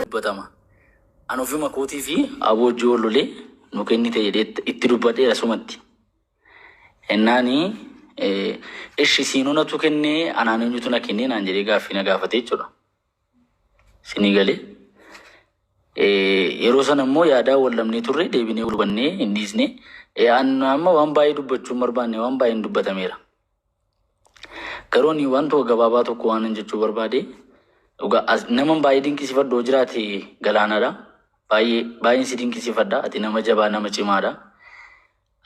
dubbatama. An ofuma kootii fi aboo ji'oo lolee nu kennite jedhee itti dubbadheera sumatti. Ennaani ishi siinuu natu kennee anaan eenyutu na kennee naan jedhee gaaffii na gaafate jechuudha. Sinii galee. Yeroo sana immoo yaadaa wal dhabnee turre deebinee wal hubannee hin dhiisne. Amma waan baay'ee dubbachuu hin barbaanne waan baay'een dubbatameera. Garuu ani wantuma gabaabaa tokko waanan jechuu barbaade dhugaa as- naman baay'ee dinqisiifadhu yoo jiraate galaanaadha. Baay'ee baay'een si dinqisiifadha. Ati nama jabaa nama cimaadha.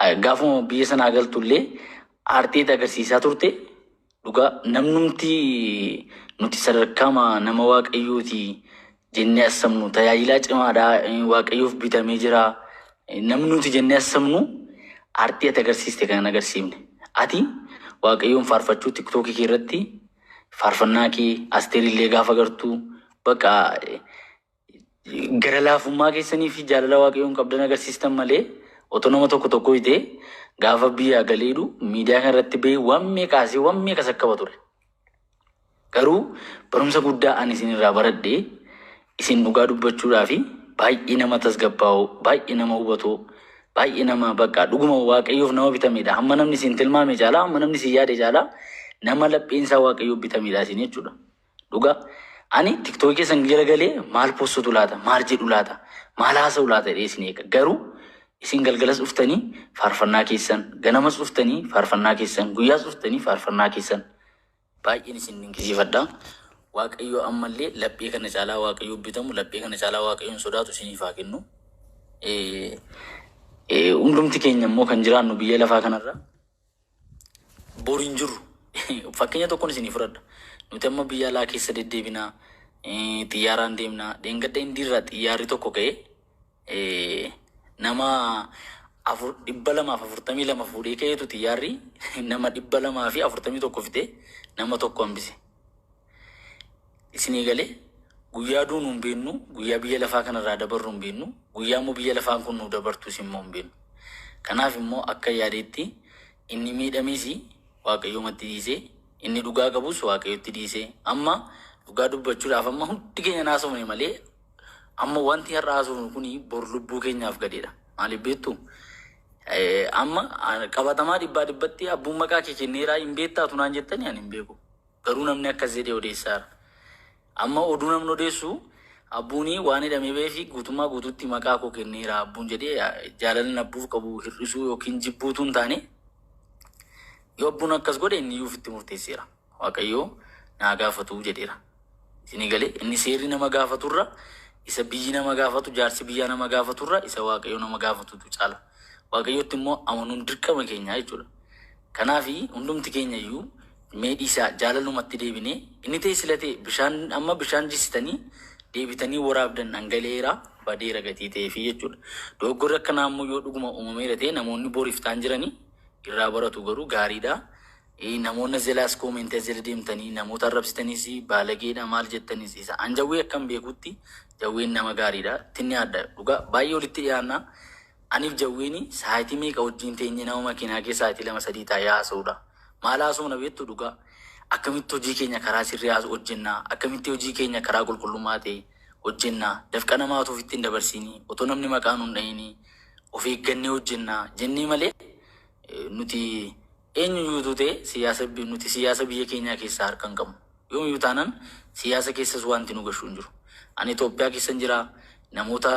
Eh, Gaafuma biyya sanaa galtullee aarteet agarsiisaa turte dhugaa namnumti nuti sadarkaama nama waaqayyooti jennee assamnu tajaajilaa cimaadha waaqayyoof bitamee jira namni nuti jennee assamnu artii ati agarsiiste kan agarsiifne ati waaqayyoon faarfachuu tiktookii kee irratti faarfannaa kee asteer illee gaafa gartu bakka gara laafummaa keessanii fi jaalala waaqayyoon qabdan agarsiistan malee otoo nama tokko tokko hidhee gaafa biyyaa galeedhu miidiyaa kanarratti ba'ee waan meeqaasee waan meeqa sakkaba ture. Garuu barumsa guddaa ani isin irraa baradhe isin dhugaa dubbachuudhaafi baay'ee nama tasgabbaa'oo, baay'ee nama hubatoo, baay'ee nama bakka dhuguma Waaqayyoof nama bitameedha. Hamma namni isin tilmaame caalaa, hamma namni isin yaade caalaa nama lapheen isaa Waaqayyoof bitameedha isin jechuudha. Dhugaa ani tiktookii keessan galagalee maal postutu laata, maal jedhu laata, maal haasa'u laata jedhee isin eega. Garuu Isin galgalas dhuftanii faarfannaa keessan, ganamas dhuftanii faarfannaa keessan, guyyaas dhuftanii faarfannaa keessan. Baay'een isin dinqisiifadha. Waaqayyo ammallee laphee kana caalaa Waaqayyoon bitamu, laphee kana caalaa Waaqayyoon sodaatu isiniif haa kennu. Eh, eh, Hundumti keenya immoo kan jiraannu biyya lafaa kanarra Bor hin jirru. Fakkeenya tokkon isinii fudhadha. Nuti amma biyya alaa keessa deddeebina, eh, xiyyaaraan deemna. Dheengadda Indiirraa xiyyaarri tokko ka'e, eh, nama afur, dhibba lamaaf afurtamii lama fuudhee ka'eetu xiyyaarri nama dhibba lamaa fi afurtamii tokko fixee nama tokko hambise. Isinii galee guyyaa duunu hin beennu, guyyaa biyya lafaa kanarraa dabarru hin beennu, guyyaa immoo biyya lafaan kun nu dabartus immoo hin beennu. Kanaaf immoo akka yaadeetti inni miidhamees Waaqayyoomatti dhiisee, inni dhugaa qabus Waaqayyotti dhiisee, amma dhugaa dubbachuudhaaf amma hundi keenya naasofne malee amma wanti har'a haasofnu kun bor lubbuu keenyaaf gadheedha. Maaliif beektu? Eh, Amma ah, qabatamaa dhibbaa dhibbatti abbuun maqaa kee kenneeraa hin beektaa tunaan jettanii ani hin beeku. Garuu namni akkas jedhee odeessaara. Amma oduu namni odeessu Abbuuni waan hidhamee ba'eefi guutummaa guutuutti maqaa koo kenneera Abbuun jedhee jaalalli Abbuuf qabu hir'isuu yookiin jibbuu utuu hin taane yoo Abbuun akkas godhe inniyyuu ofitti murteesseera. Waaqayyoo naa gaafatu jedheera. Isinii galee inni seerri nama gaafaturra isa biyyi nama gaafatu jaarsi biyyaa nama gaafaturra isa Waaqayyoo nama gaafatutu caala. Waaqayyootti immoo amanuun dirqama keenyaa jechuudha. Kanaafi hundumti keenya iyyuu mee dhiisaa jaalalumatti deebinee inni ta'e sila ta'e bishaan amma bishaan jissitanii deebitanii waraabdan dhangala'eera badeera gatii ta'eefi jechuudha. Dogoggorri akkanaa immoo yoo dhuguma uumameera ta'e namoonni bor iftaan jirani irraa baratu garuu gaariidha. Hii namoonni as jalaas comment as jala deemtanii namoota arrabsitanis baalageedha maal jettanis isa an jawwee akkan beekutti jawween nama gaariidha tinni adda dhugaa baay'ee walitti dhiyaanna aniif jawweeni saayitii meeqa wajjiin teenye nama makiinaa kee saayitii lama sadii taa'ee haasa'uudha maal haasofna beektu dhugaa akkamitti hojii keenya karaa sirrii haas hojjennaa akkamitti hojii keenya karaa qulqullummaa ta'e hojjennaa dafqa namaa otoo ofitti hin dabarsiinii otoo namni maqaa nu hin dha'inii of eeggannee hojjennaa jennee malee nuti Eenyuyyuu utuu ta'e siyaasa nuti siyaasa biyya keenyaa keessaa harka hin qabnu. Yoomiyyuu taanaan siyaasa keessas waanti nu gashu hin jiru. Ani Itoophiyaa keessan jira, namoota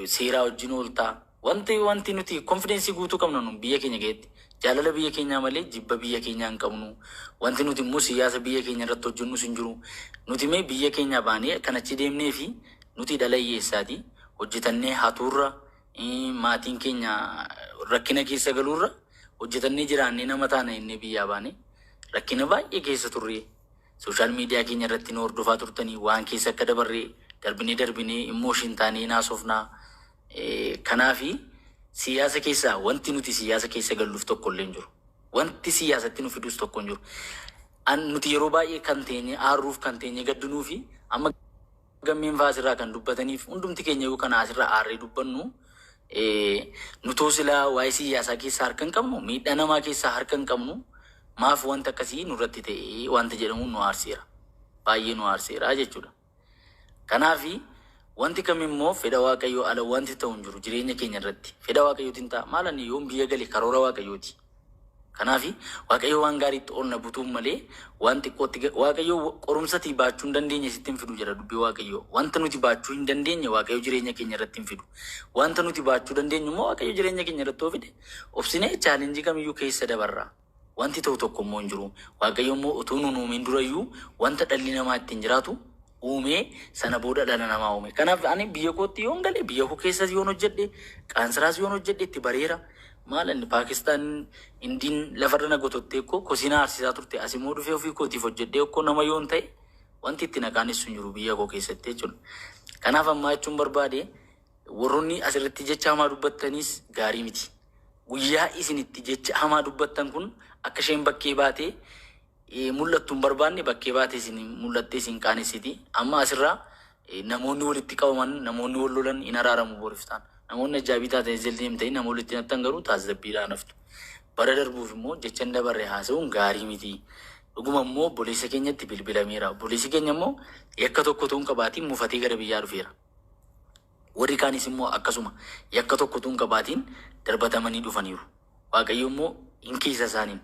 seeraa wajjin oolta. Wanti wanti nuti konfideensii guutuu qabna nu biyya keenya keessatti. Jaalala biyya keenyaa malee jibba biyya keenyaa hin qabnu. Wanti nuti immoo siyaasa biyya keenya irratti hojjennus hin jiru. Nuti mee biyya keenyaa baanee kan achi deemneefi nuti dhala hiyyeessaati. Hojjetannee hatuurra Maatiin keenya rakkina keessa galuurra hojjetannee jiraannee nama taana jennee biyyaa baane rakkina baay'ee keessa turre. Sooshaal miidiyaa keenya irratti nu hordofaa turtanii waan keessa akka dabarre darbinee darbinee immooshin taanee naasofnaa. Kanaafi siyaasa keessaa wanti nuti siyaasa keessa galluuf tokko illee hin jiru. Wanti siyaasatti nu fidus tokko hin jiru. An nuti yeroo baay'ee kan teenye aarruuf kan teenye gaddinuu fi amma Gammiin faa asirraa kan dubbataniif hundumti keenyayyuu kana asirra aarree dubbannu nutuu silaa waa'ee siyyaasaa keessaa harka hin qabnu miidhaa namaa keessaa harka hin qabnu maaf wanta akkasii nurratti ta'e wanta jedhamuun nu aarseera. Baay'ee nu aarseera jechuudha. Kanaaf wanti kamimmoo fedha waaqayyoo ala wanti ta'u hin jiru jireenya keenya irratti. Fedha waaqayyootiin ta'a. Maal ani yoon biyya gale karoora waaqayyooti. Kanaafi, Waaqayyo waan gaariitti ol na butuuf malee, waan xiqqootti ga-, Waaqayyo wa, qorumsa ati baachuu hin dandeenye sitti hin fidu jedha Dubbii Waaqayyoo. Wanta nuti baachuu hin dandeenye Waaqayyo jireenya keenya irratti hin fidu. Wanta nuti baachuu dandeenyu immoo Waaqayyo jireenya keenya irratti yoo fide, obsinee challenge kam iyyuu keessa dabarra. Wanti ta'u tokko immoo hin jiru. Waaqayyo immoo utuu nu hin uumin dura iyyuu wanta dhalli namaa ittiin jiraatu uumee sana booda dhala namaa uume. Kanaaf ani biyya kootti yoon gale biyya koo keessas yoon hojjedhe qaansiraas yoon hojjedhe itti bareera. Maal inni Paakistaan indiin lafarra na gotottee koo kosii na aarsisaa turte as immoo dhufee ofii kootiif hojjedhee koo nama yoon ta'e wanti itti na qaanessu hin jiru biyya koo keessatti jechuudha. Kanaaf ammaa jechuun barbaade warroonni asirratti jecha hamaa dubbattaniis gaarii miti. Guyyaa isin itti jecha hamaa dubbattan kun akka isheen bakkee baatee mul'attu hin barbaanne bakkee baate isin mul'attee isin qaanessiti. Amma asirraa namoonni walitti qabaman, namoonni wal lolan hin araaramu boriftaan. Namoonni ajjaabii taatan ezeltiin himtanii nama walitti nattan garuu taasisabbiidhaan haftu. Bara darbuuf immoo jecha hin dabarre haasa'uun gaarii miti. Dhuguma immoo obboleessa keenyatti bilbilameera. Obboleessi keenya immoo yakka tokko utuu hin qabaatiin mufatee gara biyyaa dhufeera. Warri kaanis immoo akkasuma yakka tokko utuu hin qabaatiin darbatamanii dhufaniiru. Waaqayyo immoo in kiisa isaaniin.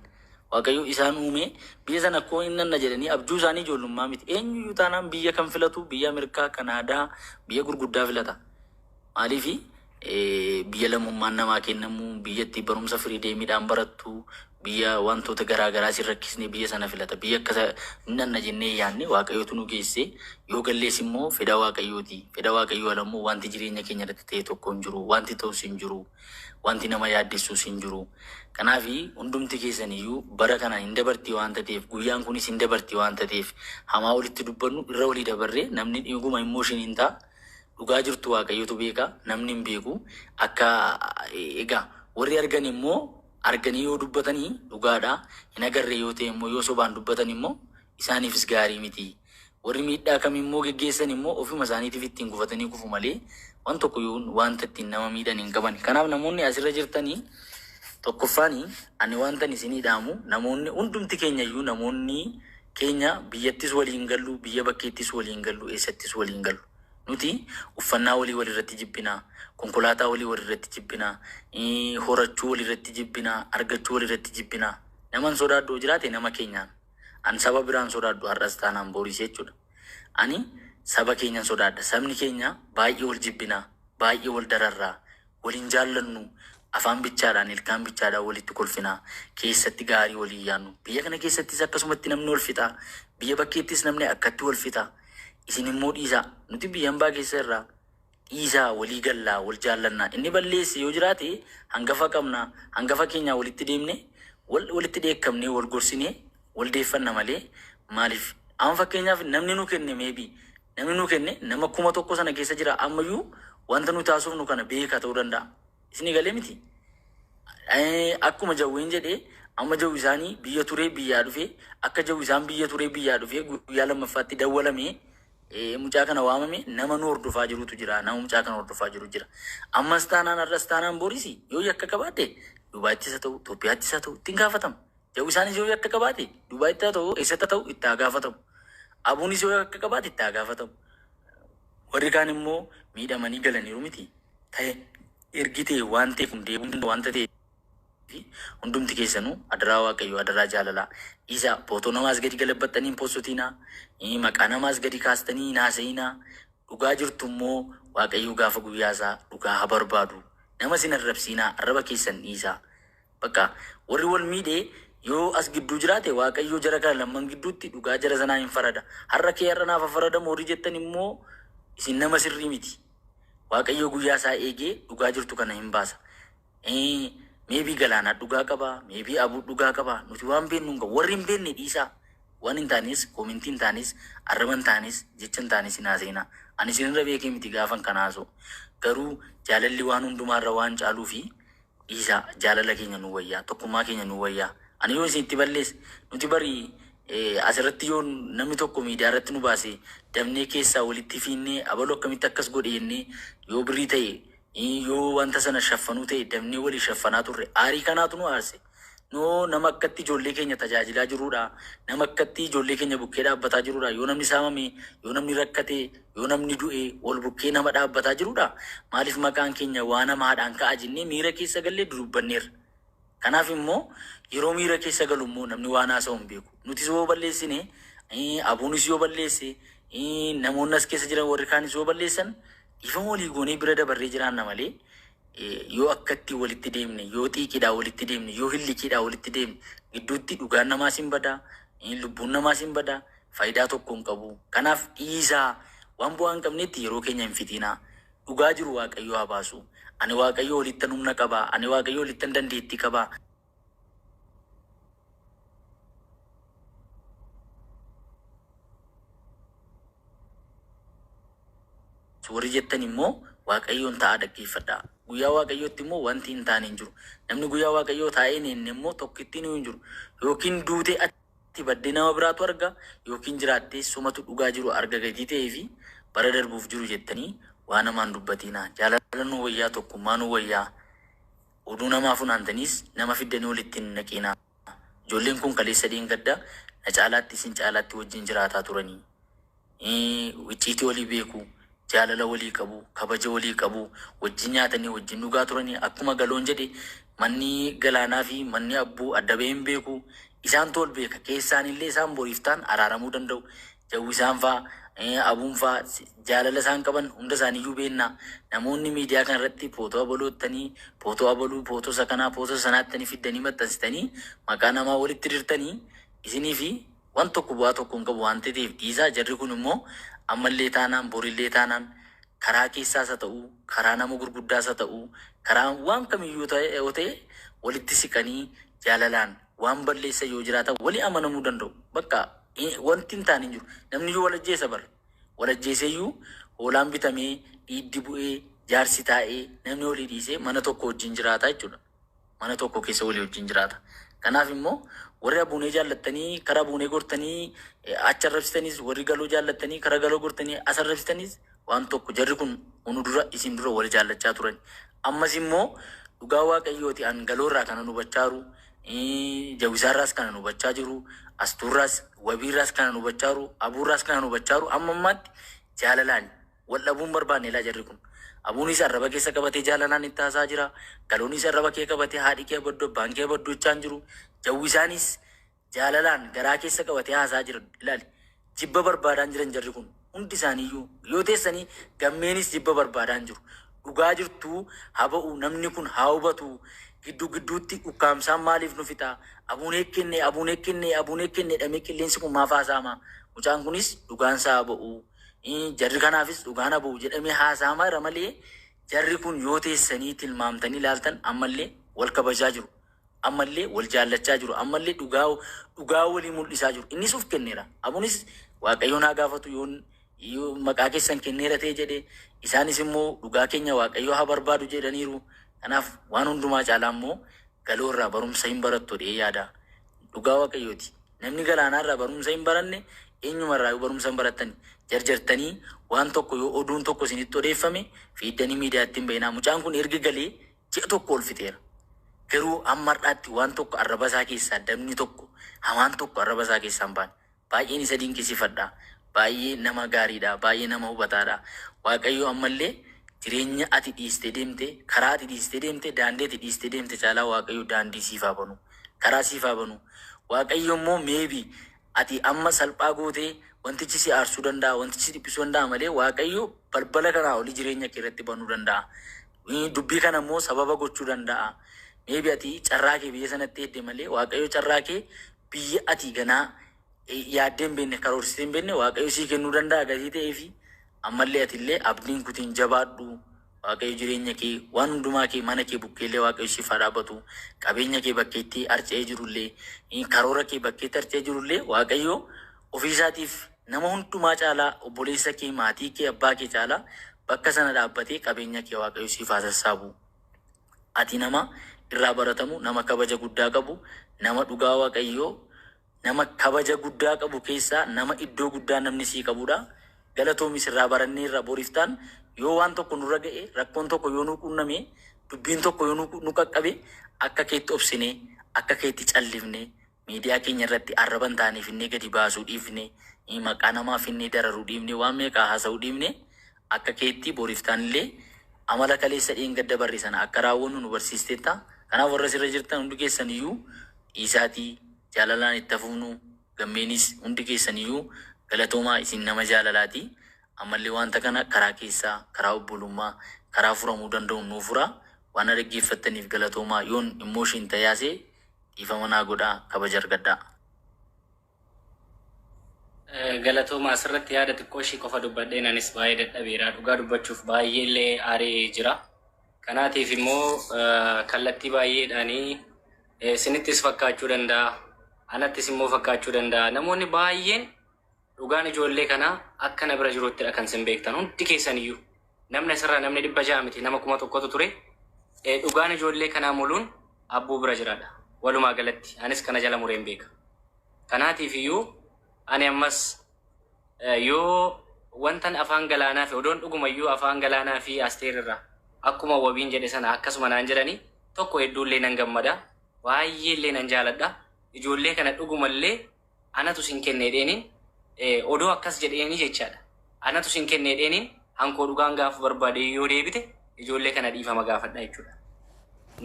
Waaqayyo isaan uumee biyya sana akkoo in nanna jedhanii abjuu isaanii ijoollummaa miti. Eenyu iyyuu taanaan biyya kan filatu biyya Ameerikaa, Kanaadaa, biyya gurguddaa filata. Maaliif biyya lammummaan namaa kennamu, biyya itti barumsa firii deemiidhaan barattu, Biyya wantoota garaa garaa sin rakkisne biyya sana filata. Biyya akka isa hin dhanna jennee yaanne Waaqayyootu nu geesse. Yoo gallees immoo fedha Waaqayyooti. Fedha Waaqayyoo ala immoo wanti jireenya keenya irratti ta'e tokko hin jiru. Wanti ta'us hin jiru. Wanti nama yaaddessuus hin jiru. Kanaaf hundumti keessan iyyuu bara kana hin dabarti waan tateef guyyaan kunis hin dabarti waan tateef hamaa walitti dubbannu irra walii dabarree namni dhuguma immooshin hin ta'a. Dhugaa jirtu Waaqayyotu beeka namni hin beeku. Akka egaa warri argan immoo arganii yoo dubbatani dhugaadha, hin agarre yoo ta'e immoo yoo sobaan dubbatan immoo isaaniifis gaarii miti. Warri miidhaa kam immoo geggeessan immoo ofima isaaniitiif ittiin gufatanii kufu malee waan tokko yoon waanta ittiin nama miidhan hin qaban. Kanaaf namoonni as irra jirtani tokkoffaani ani waantan isinii dhaamu namoonni hundumti keenya iyyuu namoonni keenya biyyattis waliin gallu, biyya bakkeettis waliin gallu, eessattis waliin gallu. Nuti uffannaa olii walirratti jibbina, konkolaataa olii walirratti jibbina, horachuu walirratti jibbina, argachuu walirratti jibbina. Naman sodaadhu yoo jiraate nama keenyaan. An saba biraan sodaadhu har'as taanaan boris jechuudha. Ani saba keenyan sodaadha. Sabni keenya baay'ee wal jibbina, baay'ee wal dararra. Wal hin jaallannu, afaan bichaadhaan, ilkaan bichaadhaan walitti kolfina, keessatti gaarii wal hin yaannu. Biyya kana keessattis akkasumatti namni wal fixa, biyya bakkeettis namni akkatti wal fixa. Isin immoo dhiisaa, nuti biyya hambaa keessa jirra, dhiisaa walii gallaa, wal jaallanna. Inni balleesse yoo jiraate hangafa qabna, hangafa keenyaan walitti deemnee, wal, walitti dheekkamnee, wal gorsinee, wal deeffanna malee maaliif amma fakkeenyaaf namni nu kenne may be namni nu kenne nama kuma tokko sana keessa jira ammayyuu wanta nuti haasofnu kana beeka ta'uu danda'a isin egalee miti Eh, akkuma jawween jedhee amma jawwi isaanii biyya turee biyyaa dhufee akka jawwi isaan biyya turee biyyaa dhufee guyyaa lammaffaatti dawwalamee eh, mucaa kana waamame nama nu hordofaa jirutu jira nama mucaa kana hordofaa jiru jira ammas taanaan har'as taanaan boris yoo yakka qabaate dubaattis haa ta'u Itoophiyaattis haa ta'u ittiin gaafatama Yaw isaanis yoo yakka qabaate Dubaayitti haa ta'u eessatti haa ta'u itti haa gaafatamu. Abuunis yoo yakka qabaate itti haa gaafatamu. Warri kaan immoo miidhamanii galaniiru miti. Ta'e ergi ta'e waan ta'e kun deebiin danda wanta ta'e fi hundumti keessanuu adaraa waaqayyoo adaraa jaalalaa dhiisaa footoo namaas gadi galabbaxxanii hin postotiinaa ii, maqaa namaas gadi kaastanii hin haasa'iinaa dhugaa jirtu immoo waaqayyoo gaafa guyyaa isaa dhugaa haa barbaadu nama sin arrabsiinaa arraba keessan dhiisaa Bakka warri wal miidhe yoo as gidduu jiraate Waaqayyo jara kana lamman gidduutti dhugaa jara sanaa hin farada. Har'a kee har'a naaf haa faradamu warri jettan immoo isin nama sirrii miti. Waaqayyo guyyaa isaa eegee dhugaa jirtu kana hin baasa. Ee, Maybe Galaanaa dhugaa qaba, maybe Abuu dhugaa qaba. Nuti waan beennu hin qabu. Warri hin beenne dhiisaa. Waan hin taanes, koomentii hin taanes, arraba hin taanes, jecha hin taanes hin haasa'inaa. Ani isinirra beekee miti gaafan kana haasa'u. Garuu jaalalli waan hundumaarra waan caaluufi dhiisaa jaalala keenya nuu wayyaa tokkummaa keenya nuu wayyaa ani yoo isin itti balleesse nuti bari asirratti yoo namni tokko miidiyaa irratti nu baase dabnee keessaa walitti fiinnee abaluu akkamitti akkas godhe jennee yoo birrii ta'e yoo wanta sana shaffanuu ta'e dabnee walii shaffanaa turre aarii kanaatu nu aarse noo nama akkatti ijoollee keenya tajaajilaa jiruudha nama akkatti ijoollee keenya bukkee dhaabbataa jiruudha yoo namni saamame yoo namni rakkate Yoo namni du'e wal bukkee nama dhaabbataa jirudha. Maaliif maqaan keenya waan hamaadhaan ka'a jennee miira keessa gallee dudubbanneerra. Kanaaf immoo yeroo miira keessa galu immoo namni waan haasa'u hin beeku. Nutis yoo balleessine, ABOnis yoo balleesse, namoonni as keessa jiran warri kaanis yoo balleessan dhiifama walii goonee bira dabarree jiraanna malee yoo akkatti walitti deemne, yoo xiiqiidhaa walitti deemne, yoo hillikiidhaa walitti deemne gidduutti dhugaan namaas hin bada, lubbuun namaas hin bada. Fayidaa tokko hin qabu. Kanaaf dhiisaa. Waan bu'aa hin qabneetti yeroo keenya hin fixiinaa. Dhugaa jiru Waaqayyoo haa baasu. Ani Waaqayyoo olittan humna qaba. Ani Waaqayyoo olittan dandeettii qaba. Warri jettan immoo Waaqayyoon taa'aa dhaggeeffadhaa. Guyyaa Waaqayyootti immoo wanti hin taane hin jiru. Namni guyyaa Waaqayyoo taa'ee hin eegne immoo tokkittiinuu hin jiru. Yookiin duutee tti baddee nama biraatu arga ykn jiraattee sumatu dhugaa jiru arga gatii ta'ee fi bara darbuuf jiru jettanii waan hamaa hin dubbatiinaa jaalala nuu wayyaa tokkummaa nuu wayyaa oduu namaa funaantaniis nama fiddanii walitti hin naqiinaa ijoolleen kun kaleessa dheengadda na caalaatti isin caalaatti wajjin jiraataa turanii icciitii walii beeku, jaalala walii qabu, kabaja walii qabu, wajjin nyaatanii wajjin dhugaa turani. Akkuma Galoon jedhe manni Galaanaa fi manni Abbuu adda bahee hin beeku. Isaantu wal beeka. Keessaanillee isaan boriif ta'an araaramuu danda'u. Jawwisaan faa, Abuun faa jaalala isaan qaban hunda isaaniiyyuu beenna. Namoonni miidiyaa kana irratti footoo abaluu jettanii, footoo abaluu, footoo isa kanaa, footoo isa sanaa jettanii fiddanii maxxansitanii maqaa namaa walitti dirtanii isiniifi Wan tokko bu'aa tokko hin qabu waan teteef dhiisaa jarri kun immoo ammallee taanaan borillee taanaan karaa keessaas ha ta'uu karaa nama gurguddaas ha ta'uu karaa waan kamiyyuu yoo ta'e walitti siqanii jaalalaan waan balleessan yoo jiraatan wali amanamuu danda'u bakka wanti hin taane hin jiru namniyyuu wal ajjeesa bar wal ajjeeseyyuu hoolaan bitamee dhiiddi bu'ee jaarsi taa'ee namni walii dhiisee mana tokko wajjin jiraata jechuudha. mana tokko keessa walii wajjin jiraata. Kanaaf immoo warri abuunee jaallattanii kara abuunee gortanii eh, achi arrabsitanis warri galoo jaallattanii kara galoo gortanii as arrabsitanis waan tokko jarri kun unu dura isin dura wal jaallachaa turan. Ammas immoo dhugaa waaqayyooti an galoo irraa kanan hubachaa jiru eh, jawisaarraas kanan hubachaa jiru astuurraas wabiirraas kanan hubachaa jiru abuurraas kanan hubachaa jiru amma ammaatti jaalalaan Wal dhabuu hin barbaanne laa jarri kun. Abuuniis arraba keessa qabatee jaalalaan itti haasa'aa jira. Galooniis arraba kee qabatee haadhi kee abaddu abbaan kee abaddu jechaa hin jiru. Jawwisaaniis jaalalaan garaa keessa qabatee haasa'aa jira. Ilaali jibba barbaadaan jiran jarri kun. Hundi isaaniiyyuu yoo teessanii gammeeniis jibba barbaadaan jiru. Dhugaa jirtuu haa ba'u namni kun haa hubatu. Gidduu gidduutti ukkaamsaan maaliif nu fixa? Abuunee kenne abuunee kenne abuunee kenne jedhamee qilleensi kun maaf haasa'ama? Mucaan kunis dhugaansaa haa ba'u. Ii, Jarri kanaafis dhugaa na ba'u jedhamee haasa'amaa jira malee jarri kun yoo teessanii tilmaamtanii ilaaltan ammallee wal kabajaa jiru. Ammallee wal jaallachaa jiru. Ammallee dhugaa dhugaa walii mul'isaa jiru. Innis uf kenneera. Abunis Waaqayyoon haa gaafatu yoon yoo maqaa keessan kenneera ta'e jedhe isaanis immoo dhugaa keenya Waaqayyoo haa barbaadu jedhaniiru. Kanaaf waan hundumaa caalaa immoo galoo irraa barumsa hin barattu jedhee yaada. Dhugaa waqayyooti namni galaanaa irraa barumsa hin baranne eenyuma irraayuu barumsa hin barattani jarjartanii waan tokko yoo oduun tokko isinitti odeeffame fiiddanii miidiyaatti hin ba'inaa mucaan kun erga galee ji'a tokko ol fixeera garuu amma har'aatti waan tokko arraba isaa keessaa dabni tokko hamaan tokko arraba isaa keessaa hin baane Baay'een isa dinqisiifadha. Baay'ee nama gaariidha. Baay'ee nama hubataadha. Waaqayyo ammallee jireenya ati dhiistee deemte, karaa ati dhiistee deemte, daandii ati dhiistee deemte caalaa Waaqayyo daandii siif haa banu. Karaa siif haa banu. Waaqayyo immoo maybe ati amma salphaa gootee wantichi si aarsuu danda'a, wantichi si dhiphisuu danda'a malee Waaqayyo balbala kanaa olii jireenya kee irratti banuu danda'a. Eh, Dubbii kana immoo sababa gochuu danda'a. Maybe ati carraa kee biyya sanatti hedde malee Waaqayyo carraa kee biyya ati ganaa yaaddee hin beekne, karoorsitee hin beekne Waaqayyo sii kennuu danda'a gatii ta'eefi. Ammallee atillee abdii hin kutin jabaadhu. Waaqayyo jireenya kee, waan hundumaa kee, mana kee bukkeellee Waaqayyo siif haa dhaabbatu. Qabeenya kee bakkeetti harca'ee jirullee, karoora kee bakkeetti harca'ee jirullee Waaqayyo ofiisaatiif nama hundumaa caalaa obboleessa kee, maatii kee, abbaa kee caalaa bakka sana dhaabbatee qabeenya kee Waaqayyo siif haa sassaabu. Ati nama irraa baratamu, nama kabaja guddaa qabu, nama dhugaa Waaqayyoo nama kabaja guddaa qabu keessaa nama iddoo guddaa namni sii qabudha. Galatoomi sirraa baranneerra boriftaan yoo waan tokko nurra ga'e rakkoon tokko yoo nu quunname dubbiin tokko yoo nu qaqqabe akka keetti obsinee akka keetti callifnee Miidiyaa keenya irratti arraba hin taane finnee gadi baasuu dhiifne, maqaa namaa finnee dararuu dhiifne, waan meeqaa haasa'uu dhiifne, akka keetti bor iftaan illee amala kaleessa dheengadda barre sana akka raawwannu nu barsiisteetta. Kanaaf warra asirra jirtan hundi keessan iyyuu dhiisaatii jaalalaan itti haa fufnu. Gammeenis hundi keessan iyyuu galatoomaa isin nama jaalalaati. Ammallee wanta kana karaa keessaa, karaa obbolummaa, karaa furamuu danda'uun nuu furaa. Waan na dhaggeeffattaniif galatoomaa. Yoon emotion ta'ee haasa'e Dhiifama naa godhaa kabaja argadhaa. Galatooma asirratti yaada xiqqoo ishii qofa dubbadheen anis baay'ee dadhabeera dhugaa dubbachuuf baay'ee illee aaree jira kanaatiif immoo kallattii baay'eedhaanii sinittis fakkaachuu danda'a anattis immoo fakkaachuu danda'a namoonni baay'een Dhugaan ijoollee kanaa akka na bira jiruttidha kan isin beektan hundi keessaniyyuu. Namni asirraa namni dhibba ja'a miti nama kuma tokkotu ture. Eh, Dhugaan ijoollee kanaa muluun abbuu bira jiradha. Walumaa galatti anis kana jala mureen beeka. Kanaatiif iyyuu ani ammas eh, yoo wantan afaan galaanaa fi odoon dhuguma iyyuu afaan galaanaa fi asteer irraa akkuma wabiin jedhe sana akkasuma naan jedhani tokko hedduullee nan gammada. Baay'eellee nan jaaladha. Ijoollee kana dhugumallee anatu sin kenne jedheeniin odoo akkas jedheeni jechaadha anatu sin kenne jedheeniin hankoo dhugaan gaafa barbaade yoo deebite ijoollee kana dhiifama gaafadha jechuudha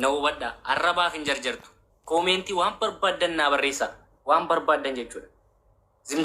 na hubadha arrabaaf hin jarjartu koomeentii waan barbaaddan naa barreessaa waan barbaaddan jechuudha Zim